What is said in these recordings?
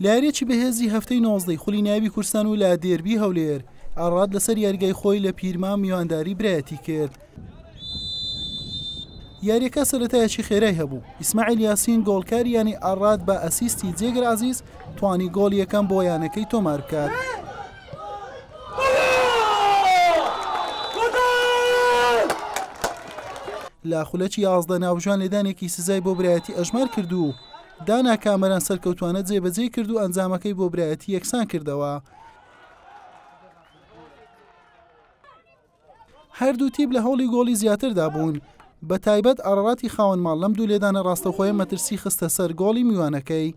لە یارییەکی بەهێزی هەفتەی نۆزدەی خولی نایبی کورسان و لە دێربی هەولێر ئاڕات لەسەر یاریگای خۆی لە پیرمام میوانداری برایەتی کرد. یاریەکە سەتایەکی خێرای هەبوو ئیسماعیل یاسین گۆڵکار یانی ئاراد بە ئەسیستی جێگر عزیز توانی گۆڵ یەکەم بۆ یانەکەی تۆمار بکات. لە خولەکی یازدە ناوژان لێدانێکی سزای بۆ برایەتی ئەژمار کرد و دانا کامەران سەرکەوتوانە جێبەجێ کرد و ئەنجامەکەی بۆ برایەتی یەکسان کردەوە. هەردوو تیب لە هەوڵی گۆڵی زیاتردا بوون بە تایبەت ئارڕاتی خاوەن ماڵ لەم دوو لێدانە ڕاستەخۆیە مەترسی خستە سەر گۆڵی میوانەکەی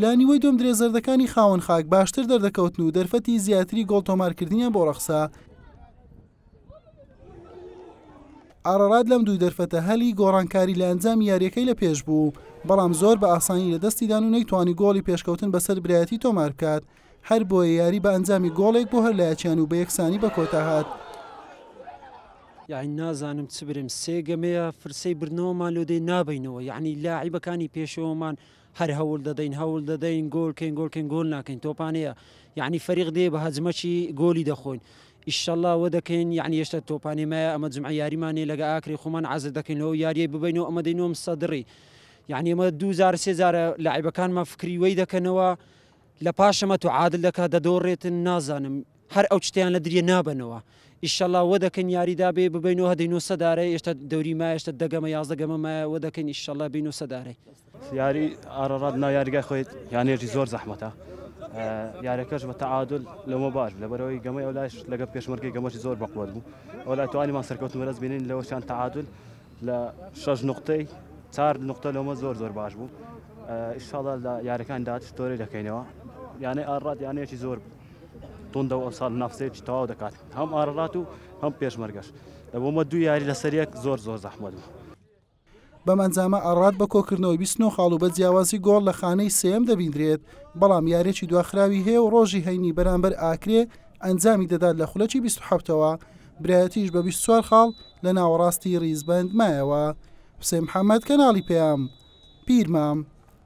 لە نیوەی دوم درێ زەردەکانی خاوەن خاک باشتر دەردەکەوتن و دەرفەتی زیاتری گۆڵ تۆمارکردنیان بۆ ڕەخسا ئارارات لەم دوو دەرفەتە هەلی گۆڕانکاری لە ئەنجام یاریەکەی لە پێش بوو بەڵام زۆر بە ئاسانی لە دەستیدان و نەیتوانی گۆڵی پێشکەوتن بەسەر برایەتی تۆمار بکات هەربۆیە یاری بە ئەنجامی گۆڵێک بۆ هەر لایەکیان و بە یەکسانی بە کۆتا هات. یاعنی نازانم چ برێم سێ گەمەیە فرسەی بردنەوەمان لۆدەی نابینەوە یاعنی لاعیبەکانی پێشەوەمان هەر هەول دەدەین هەول دەدەین گۆل کەین گۆل کەین گۆل ناکەین تۆپانەیە یاعنی فەریق دێ بە هەجمەکی گۆلی دەخۆین ئیشەله وە دەکەین یعنی یشتا تۆپانی مایە ئەمە جمعە یاریمانێ لەگە ئاکری خۆمان عزر دەکەین لەو یاریە ببینەوە ئەمە دەینۆم سەدڕی یعنی ئەمە دوزار سێزارە لاعیبەکانمان فکری وەی دەکەنەوە لە پاشم ئەتو عادل دەکا دەدۆڕێتن نازانم هەر ئەو چتەیان لە دریە نابەنەوە ئیشەڵا وە دەکەین یاریدا بێ ببینەوە هەدەی نۆ سەدارەی ئێشتا دەوری مایە ئێشتا دەگەمە یازدە گەمە مایە وە دەکەین ئیشەڵا بینەوە سەدارەی یاری ئارەڕات ناو یاریگای خۆیت یانێژی زۆر زەحمەتە یارەکەش بە تەعادل لەمە باش لە بەرەوەی گەمەی ئەو لایش لەگە پێشمەرگی گەمەشی زۆر بەقوت بوو ئەو لای توانیمان سەرکەوتن بەرەز بینین لەوەشان تەعادل لە شەش نوقتەی چار نوقتە لۆمە زۆر زۆر باش بوو ئیشاڵە لە یارەکان داچ تۆرەی دەکەینەوە یانەی ئاڕات یانەیەکی زۆر توندە و ئەمساڵ نافسێکی تەواو دەکات هەم ئاڕات و هەم پێشمەرگەش لە بۆمە دوو یاری لەسەر یەک زۆر زۆر زەحمەت بوو بەم ئەنجامە ئاڕات بە کۆکردنەوەی 29 خاڵ و بە جیاوازی گۆڵ لە خانەی سێم دەبیندرێت بەڵام یارێکی دواخراوی هەیە و ڕۆژی هەینی بەرامبەر ئاکرێ ئەنجامی دەدات لە خولەکی 27ەوە برایەتیش بە 24 خاڵ لە ناوەڕاستی ڕیزبەند مایەوە. حوسێن محەمەد کەناڵی پەیام، پیرمام.